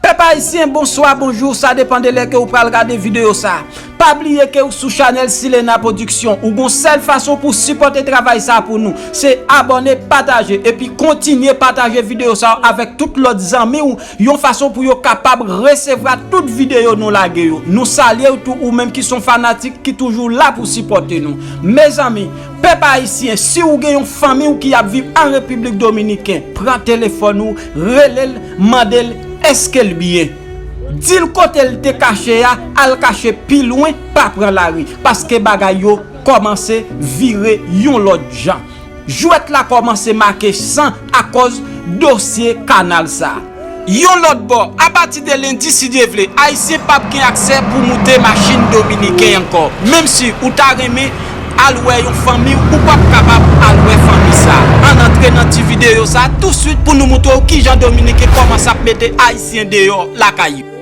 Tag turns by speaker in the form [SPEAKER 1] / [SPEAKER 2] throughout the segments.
[SPEAKER 1] Pèp ayisyen bonswa bonjou sa depan de lè ke ou pral gade videyo sa. Pa bliye ke ou sou chanèl Silena Production ou gon sèl fason pou sipòte travay sa pou nou se abòne pataje epi kontinye pataje videyo sa avèk tout lòt zanmi ou Yon fason pou yo kapab resevra tout videyo nou lage yo. Nou salyew tou ou menm ki son fanatik ki toujou la pou sipòte nou. Mezanmi, pèp ayisyen si ou gen yon fanmiw ki ap viv an Repiblik Dominiken, pran telefòn ou, relel, mandel eskel byen. Dil kotel te kache a al kache pi lwen pa pran lari, paske bagay yo kòmanse vire yon lòt jan. Jwèt la kòmanse make san akòz dosye kanal sa. Yon lòt bò, apati de lendi si Dye vle, Ayisyen pap gen aksè pou moute machin Dominiken ankò. Menm si ou ta renmen al wè yon fanmi w, ou pap kapab al wè fanmi sa. Ann antre nan ti videyo sa touswit pou nou moutrew kijan Dominiken kòmanse ap mete Ayisyen deyò lakay yo.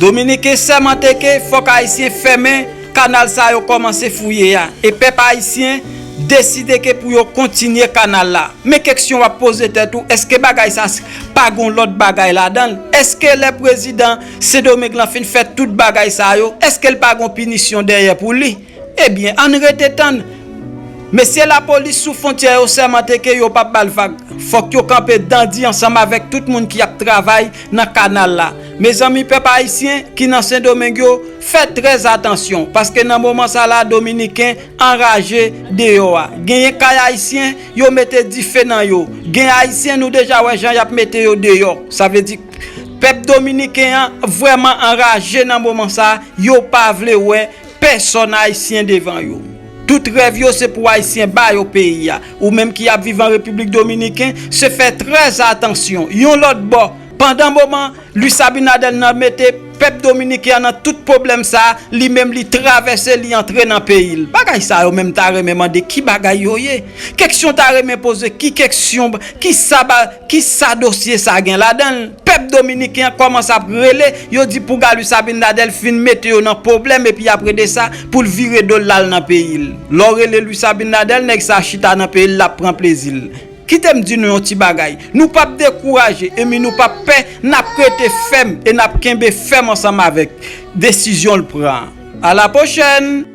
[SPEAKER 1] Dominiken sèmante ke fòk Ayisyen fèmen kanal sa yo kòmanse fouye a, e pèp Ayisyen deside ke pou yo kontinye kanal la. Men keksyon w ap poze tèt ou, èske bagay sa pa gen yon lòt bagay ladan l? Èske lè prezidan Sendomeng lan fin fè tout bagay sa yo, èske l pa gen yon pinisyon dèyè pou li? Ebyen ann rete tann. Mesye lapolis sou fontyè yo sèmante ke yo pap bal vag. Fòk yo kanpe dan di ansanm avèk tout moun ki ap travay nan kanal la. Mezanmi pèp ayisyen ki nan sendomeng yo fè trèz atansyon paske nan moman sa la dominiken anraje deyò a genyen kay ayisyen yo mete dife nan yo gen ayisyen nou deja wè jan yap mete yo deyò sa vle di pèp dominiken an vrèman anraje nan moman sa yo pa vle wè Pèsòn ayisyen devan yo. Tout rèv yo se pou ayisyen ba yo peyi a. Ou menm ki ap viv an Repiblik Dominiken, se fè trè atansyon. Yon lòt bò, pandan moman Luis Abinader nan mete pèp dominiken an nan tout pwoblèm sa, li menm li travèse li antre nan peyi l. Bagay sa yo menm m ta renmen mande ki bagay yo ye? Kèksyon ta renmen poze ki kèksyon, ki sa ba. Kisa dosye sa gen ladanl? Pèp dominiken an kòmanse ap rele, yo di pou Galuis Abinadel fin mete yo nan poblèm epi apre de sa poul vire dol lal nan peyil. Lèw rele Luis Abinadel nèg sa chita nan peyil lap pran plezil. Kitem di nou yon ti bagay, nou pap dekouraje enmi nou pap pè nap rete fèm e nap kenbe fèm ansanm avèk desizyonl pran an. A la pwochèn!